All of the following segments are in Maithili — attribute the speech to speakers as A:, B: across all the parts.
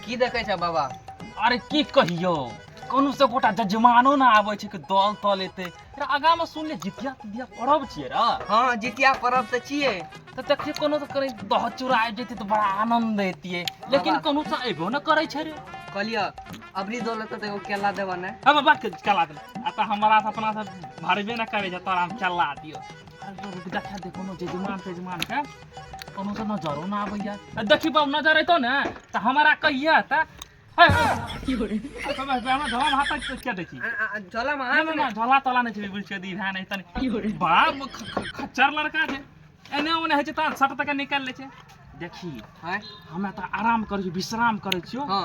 A: की देखै छ बाबा अरे की
B: कहियो कोनो से गोटा जजमानो ना आबै छै कि दल तल एते अरे आगा में सुन ले जितिया तितिया परब छियै रे हँ जितिया परब
A: तऽ छियै तऽ देखियै कोनो
B: तऽ कहीं दह चूरा आबि जैतै तऽ बड़ा आनंद एतियै लेकिन बाबा। कोनो से अयबो ना करै छै रे कहलियै
A: अबरी दौलत तऽ एगो केला देबऽ ने अब बात कर चला दे
B: आ तऽ हमरा से अपना से भरबे ना करे जे तोरा हम चला दियो अरे रुक देखा दे कोनो जजमान तजमान के कोनो से नजरो ना आबैया आ देखी बाबू नजर अइतो ने तऽ हमरा कहिया तऽ है हमरा धोम हाथ तक के देखी झोला में ना ना
A: ना झोला तोला नहि छै
B: बुझ के दी भए नहि तनी बाप ख- ख- खच्चर लड़का छै एने ओने होइ छै तऽ सट तक निकालि लै छै देखी हाय हमे
A: तऽ आराम
B: करै छी विश्राम करै छियो हाँ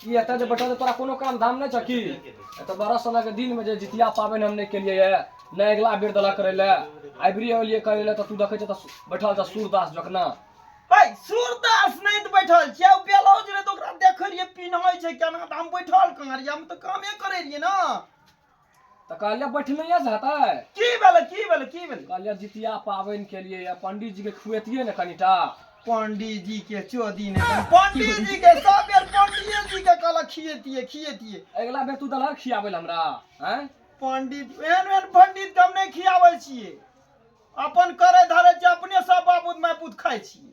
C: की एतऽ जे बैठल तोरा कोनो काम धाम नहि छौ की एतऽ बारह सोना के दिन में जे जितिया पाबनि हम नहि केलियै ये नहि अगिला बेर देलक करे ले आबिरी एलियै करे ले तऽ तू देखै छह तऽ बैठल छह सूरदास जकना ऐ
D: सूरदास नहि तऽ बैठल छियै ओ ब्लाउज रहै तऽ ओकरा देखै रहियै पिन्है छै केना तऽ हम बैठल कहाँ रहियै हम तऽ कामे करै रहियै ने तऽ
C: कहलियै बैठले से हेतै की भेलै की
D: भेलै की भेलै कहलियै जितिया
C: पाबनि केलियै या पंडित जी के खुएतियै ने कनिटा पंडित जी
D: के चोदी ने पंडित जी के सब बेर पंडित जी के कहलक खिएतिए खिएतिए अगिला बेर तू दलहर
C: खियाबै लए हमरा हैं पंडित
D: एहन एहन पंडित के हम नहीं खियाबै छिए अपन करे धरे छिए अपने सब बापूत मायपूत खाइ छिए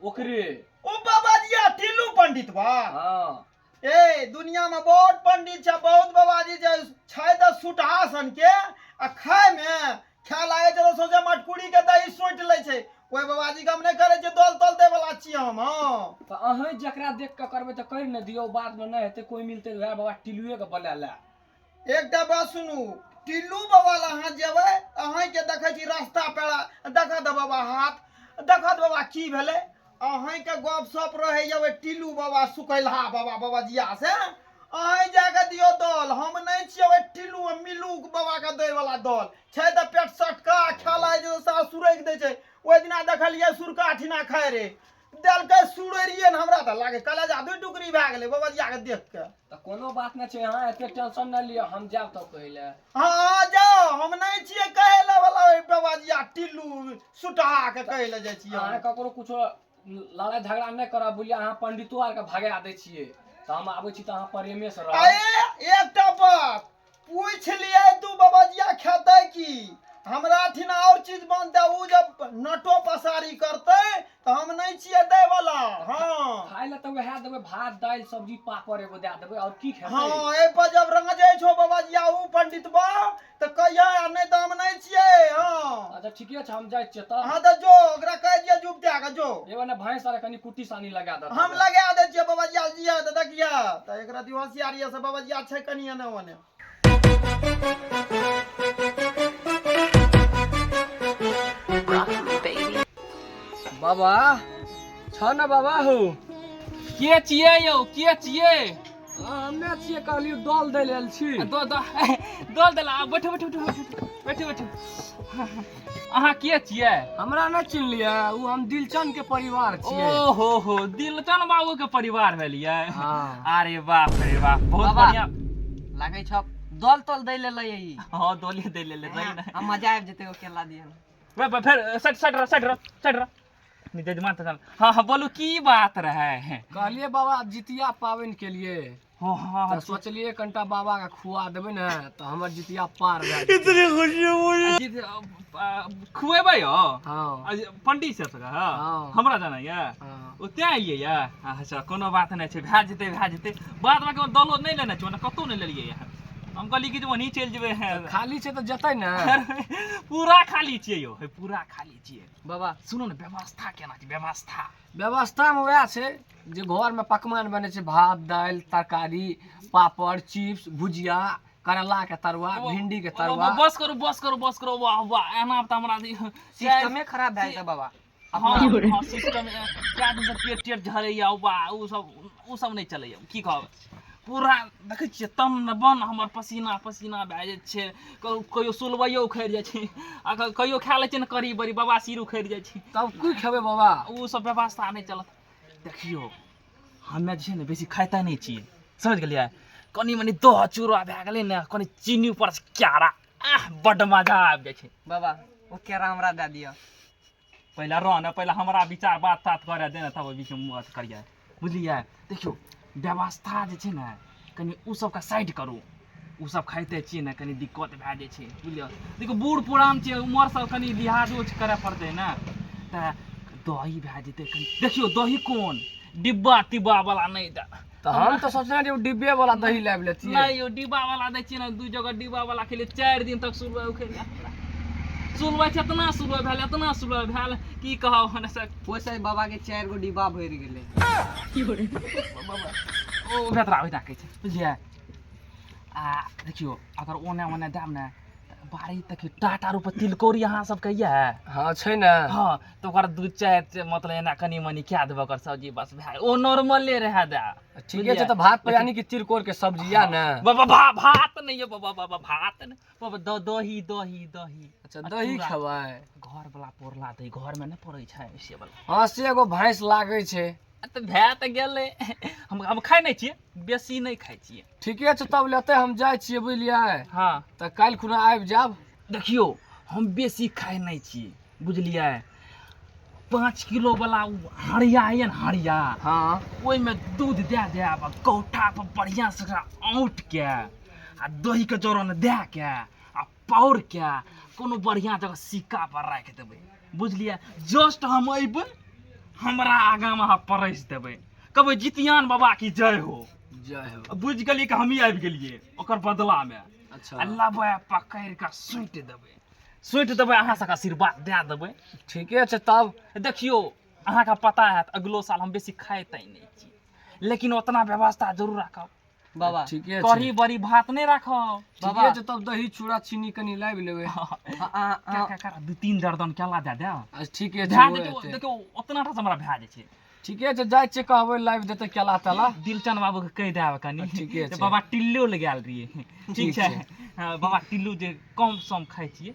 C: ओकरे ओ बाबा
D: जी आ टिल्लू पंडित बा हाँ
C: ए
D: दुनिया में बहुत पंडित छै बहुत बाबा जी छै छै तऽ सुटहा सन के आ खाय मे खाय लागे छै तऽ सोचे मटकुरी के दही सोट ले छै कोई बाबा जी के हम नहीं करे छियै दल तल दे वाला छियै हम हाँ तो अहें जकरा
C: देख के करबे तो कर न दियो बाद में नहीं हेते कोई मिलते तो वह बाबा टिलुए के बोला ला एकटा बात
D: सुनू टिल्लू बाबा लग अहाँ जेबै अहीँके देखै छी रास्ता पेड़ा देखऽ दऽ बाबा हाथ देखऽ दऽ बाबा की भेलै अहीँके गप सप रहैए ओहि टिल्लू बाबा सुकैलहा बाबा बाबा जिया से अहीँ जाके दियौ दल हम नहि छियै ओहि टिल्लू आ मिल्लू बाबाके दैवला दल छै तऽ पेट सटका खाय लागै छै तऽ सास सुरैक दै छै ओहि दिना देखलियै सुरका ठिना खाइ रहै देलकै सुरैरिए ने हमरा तऽ लागै कलेजा दू टुकड़ी भए गेलै बाबा जियाके देख कऽ तऽ कोनो बात नहि
C: छै अहाँ एते टेंशन नहि लिअ हम जायब तऽ पहिले हँ हँ जाओ
D: हम नहि छियै कहै लए वाला ओहि बबाजिया टिल्लू सुटा के कहै लए जाइ छियै अहाँ हम। ककरो कुछो
C: लड़ाइ झगड़ा नहि करब बुझलियै अहाँ पंडितो आरके भगा दै छियै तऽ हम आबै छी तऽ अहाँ प्रेमे से रहब अरे एकटा
D: बात पूछि लियै दू बबजिया खेतै की हमरा ठिन आओर चीज बनतै ओ जब नटो पसारी करतै तऽ हम नहि छियै दैवला हँ खाय लए तऽ वएह
C: देबै भात दालि सब्जी पापड़ एगो दए देबै आओर की खेतै हँ एहिपर जब
D: राजै छौ बबजिया ओ पंडितबा तऽ कहियै आ नहि तऽ हम नहि छियै हँ अच्छा ठीके छै हम
C: जाइ छियै तऽ हाँ तऽ जो ओकरा कह
D: दिया जुब दे के जो एगो ने भैंस आर कनी
C: कुट्टी सानी लगा दे हम लगा दे छियै
D: बबजिया जिया तऽ देखिया तऽ एकरा दियो होशियारी से बबजिया छै कनी एने ओने
C: बाबा छौ ने बाबा
B: हो के छियै
C: यौ के
B: छियै
C: हमे छियै कहलियौ दल दै लेल छी दो दो
B: दल देला आब बैठो बैठो बैठो बैठो बैठो अहाँ के छियै हमरा नहि चिन्हलियै
C: ओ हम दिलचन के परिवार छियै ओहो हो
B: दिलचन बाबू के परिवार भेलियै हाँ। अरे
C: बाप रे
B: बाप बहुत बाबा। बढ़िया लागै छ
A: दल तल दै लेल ई हाँ दोले दे ले
B: ले रही ना हम मजा आबि जेतै ओ केला
A: दिए वे- वे- फिर
B: सट सट रह सट रह सट रह जजमान तऽ हाँ हाँ बोलू की बात रहे कहलिए बाबा
C: जितिया पावन के लिए हाँ हाँ तो
B: सोचलिए कंटा
C: बाबा का खुआ देबे ना तो हमर जितिया पार भए इतनी खुशी
B: बोली खुएबे हो हाँ
C: पंडित से तक
B: हाँ हमरा जाना
C: या हाँ
B: ओते आइए
C: या
B: अच्छा कोनो बात नहीं छै भए जेते भए जेते बाद में कोनो दलो नहीं लेना छै कतौ नहीं लेलिए या हम कहली कि वहीं चल जेबे खाली छै तो जतै
C: ना पूरा
B: खाली छियै यो पूरा खाली छियै बाबा सुनू ने
A: व्यवस्था
B: केना छै व्यवस्था व्यवस्थामे उएह
C: छै जे घरमे पकवान बनै छै भात दालि तरकारी पापड़ चिप्स भुजिया करैलाके तरुआ भिंडीके तरुआ बस करू बस करू बस
B: करू वाह वाह एना तऽ हमरा सिस्टमे खराब
A: भए जेतै बाबा सिस्टम
B: कए दिनसँ पेट टेट झड़ैए वाह ओ सब ओ सब नहि चलैए की कहब पूरा देखै छियै तन ने बन हमर पसीना पसीना भए जाइ छै कहियो सुलबैयो उखड़ि जाइ छै आ कहियो खा लै छै ने करी बड़ी बाबा सिर उखड़ि जाइ छै तब की खेबै बाबा
C: ओ सब व्यवस्था
B: नहि चलत देखियौ हमे जे छै ने बेसी खाइते नहि छी समझ गेलियै कनि मनि दह चूड़ा भए गेलै ने कनि चीनी ऊपर से क्यारा आह बड्ड मजा आबि जाइ छै बाबा ओ केरा
A: हमरा दए दिअ पहिले
B: रह ने पहिले हमरा विचार बात तात करे दे ने तब ओहि बीचमे मुँह अथी करियै बुझलियै देखियौ व्यवस्था जे छै ने कनि ओ सबके साइड करू ओ सब खाइते छियै ने कनि दिक्कत भए जाइ छै बुझलियै देखियौ बूढ़ पुरान छै उमर सब कनि लिहाजो करय पड़तै ने तऽ दही भए जेतै कनि देखियौ दही कोन डिब्बा टिब्बा बला नहि दए तो हम तो सोचना
C: जे डिब्बे वाला दही लाइव लेती है नहीं यो डिब्बा वाला
B: दै छियै ने दू जगह डिब्बा वाला खेले चार दिन तक सुलवा उखड़ जाए सुलवा छै इतना सुलवा भेल इतना सुलवा भेल की कहब हमरा सब पोसै बाबा के चार
A: गो डिब्बा भरि गेलै
B: ओ भेतरा ओहिना कहै छै बुझलियै आ देखियो अगर ओने ओने दाम ने बारी तक टाटा रूप तिलकोरी अहाँ सब कहिया हाँ छै ने
C: हाँ तऽ ओकर दू
B: चारि मतलब एना कनि मनि कए देबऽ ओकर सब्जी बस भए ओ नॉर्मले रहए दए ठीके छै तऽ भात
C: पर यानी कि तिरकोर के सब्जी या ने बाबा भा भात
B: नहि यऽ बाबा बाबा भात नहि बाबा द दही दही दही अच्छा दही खेबै
C: घर वाला
B: पोरला दही घर में नहि पड़ै छै से वाला हँ से एगो भैंस
C: लागै छै तऽ भए तऽ
B: गेलै हम हम खाइ नहि छियै बेसी नहि खाइ छियै ठीके छै तब लेते
C: हम जाइ छियै बुझलियै हँ तऽ काल्हि
B: खुना
C: आबि जायब देखियौ
B: हम बेसी खाइ नहि छी बुझलियै पाँच किलो वाला ओ हरिया यऽ ने हरिया हँ ओहिमे
C: दूध
B: दए देब आ कौठा पर बढ़िया से ओकरा औंट के आ दही के जोरन दए के आ पावर के कोनो बढ़िया जगह सिक्का पर राखि देबै बुझलियै जस्ट हम अयबै हमरा आगा में अहाँ परसि देबै कहबै जितियान बाबा की जय हो जय हो बुझ
C: गेलियै कि हमही आबि
B: गेलियै ओकर बदला में अच्छा आ लबै
C: पकड़ि
B: कऽ सुटि देबै सुटि देबै अहाँ सबके आशीर्वाद दए देबै ठीके छै तब
C: देखियौ
B: अहाँके पता हैत अगिलो साल हम बेसी खाइते नहि छी लेकिन ओतना व्यवस्था जरूर राखब बाबा ठीके छै।
A: कढ़ी बड़ी
C: भात नहि
B: राखब ठीके बाबा छै तब दही
C: चूड़ा चीनी कनि लाबि लेबै आ- आ- आ- क्या क्या
B: कर दू तीन दर्दन केला दे दे आ, ठीके छै भए ओ जेतौ
C: एतै। देखियौ ओतना
B: टा हमरा भए जाइ छै ठीके छै जाइ छियै
C: कहबै लाबि देतै केला तेला दिलचन बाबू के कहि
B: देब कनी आ, ठीके जे छै। बाबा टिल्लो
C: लगायल
B: रहिए ठीक ठीक छै छै। हँ, बाबा टिल्लू जे कम सम खाइ छियै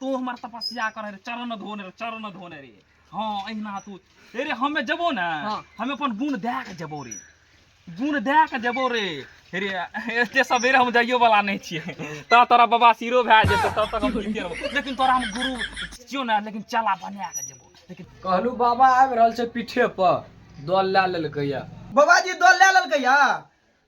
B: तू हमर तपस्या करे रे चरण धोने रे चरण धोने रे हाँ अहिना तू ए रे हमे जबो ने हाँ। हमे अपन गुण दे के जबो रे गुण दे के जबो रे रे एते सबेरे हम जाइयो वाला नहीं छिए त तोरा बाबा सिरो भए जेतै तब तक हम जीते रहबो लेकिन तोरा हम गुरु छियो ने लेकिन चला बना के जबो लेकिन कहलू बाबा आबि
C: रहल छै पीठे पर दल लए लेलकै या बाबाजी दल लए
D: लेलकै या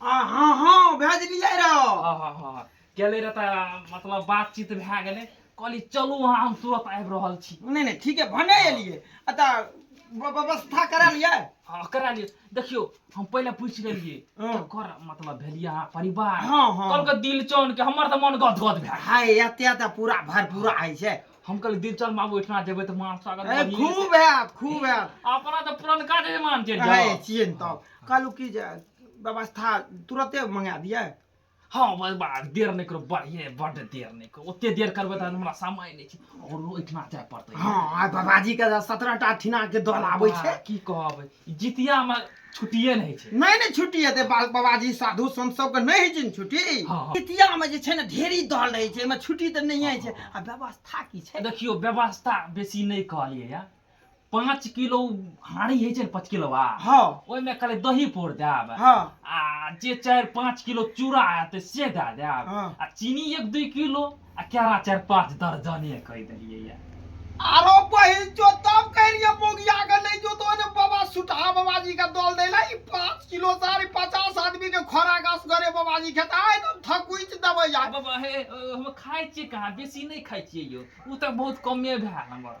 B: आ हाँ
D: हाँ भेजलियै रह हाँ हाँ हाँ
B: गेलै रह तऽ मतलब बातचीत भए गेलै कहली चलू अहाँ हम तुरंत आबि रहल छी नहि नहि ठीक है भने
D: एलियै आ तऽ ब- व्यवस्था करा लियै हाँ करा लियौ
B: देखियौ हम पहिले पूछि लेलियै हाँ। ककर मतलब
D: भेलियै
B: अहाँ परिवार हाँ, हाँ। कहलकै
D: दिलचन के
B: हमर तऽ मन गद गद भए गेल। हाय एते तऽ पूरा
D: भरपूरा होइ छै हम कहलियै दिलचन
B: बाबू ओहिठिना जेबै तऽ मान स्वागत ए, बढ़िये खूब हैत खूब
D: हैत से। अपना तऽ पुरनका
B: जजमान चलि हाय जाओ चियन तब कहलू
D: कि जे व्यवस्था तुरते मंगा दिए हाँ भाई
B: बा देर नहीं करो बढ़िए बड देर नहीं करो ओते देर करबे तऽ हमरा समय नहीं छै और ओहिठिना जाय पड़तै हाँ आ बाबाजी के
D: सत्रह टा ठिना के दल आबै छै बा, की कहब
B: जितिया में छुट्टिए नहीं छै नहीं नहीं छुट्टी हेतै बा-
D: बाबाजी साधु संत सबके नहीं होइ छै ने छुट्टी हाँ, हाँ। जितिया में जे
B: छै ने ढेरी
D: दल रहै छै एहिमे छुट्टी तऽ नहिए छै आ व्यवस्था की छै देखियो व्यवस्था
B: बेसी नहीं कहलिए या पाँच किलो हाड़ी होइ छै ने पाँच किलो हाँ ओहिमे
D: खाली दही
B: पोर देब हाँ आ
D: जे
B: चारि पाँच किलो चूड़ा आयत से दए देब हाँ। आ चीनी एक
D: दू
B: किलो आ केरा चारि पाँच दर्जने कहि देलियै ये आरो बहिन
D: जो तब कह रही बोगिया के नहीं जो तो ने बाबा सुठा बाबा जी का दल दे ला पाँच किलो सारी पचास आदमी के खोरा गास करे बाबा जी खेता है तो थकुच दबे जा बाबा हे हम
B: खाए छी कहाँ बेसी नहीं खाए छी यो उ तक बहुत कमे भए हमर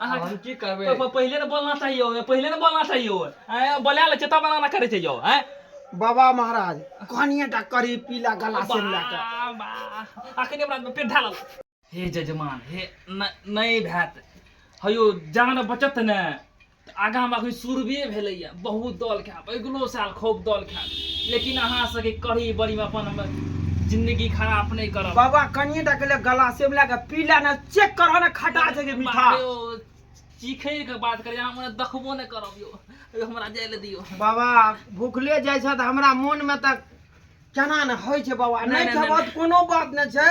B: अहाँ आब हम की करबै प- प-
C: पहिले ने बोलना चाहिए
B: हो, पहिले ने बोलना चाहिए हो। आँय, बोला ले चेता बनाना करे छै यो आँय? बाबा महाराज
D: कहनिए टा करी पीला गला से लए कऽ बा- बा-
B: अखने हमरा पेट ढालल हे जजमान हे न- नहि भैत हयौ जान बचत ने तऽ आगाँ हमरा अखन सुरबे भेलैए बहुत दलके अगिलो साल खूब दल खायब लेकिन अहाँ सबके कढ़ी बड़ी में अपन हम जिंदगी खराब नहीं करब बाबा कनिए टा के
D: गला से मिला के पीला ना चेक करह ना खटा छै मीठा चीखे
B: के बात करे अहाँ मने देखबो नहीं करब यो हमरा जाय ले दियो बाबा भूखले
D: जाय छ त हमरा मन में त केना न होय छै बाबा नहीं खेबो कोनो बात नहीं छै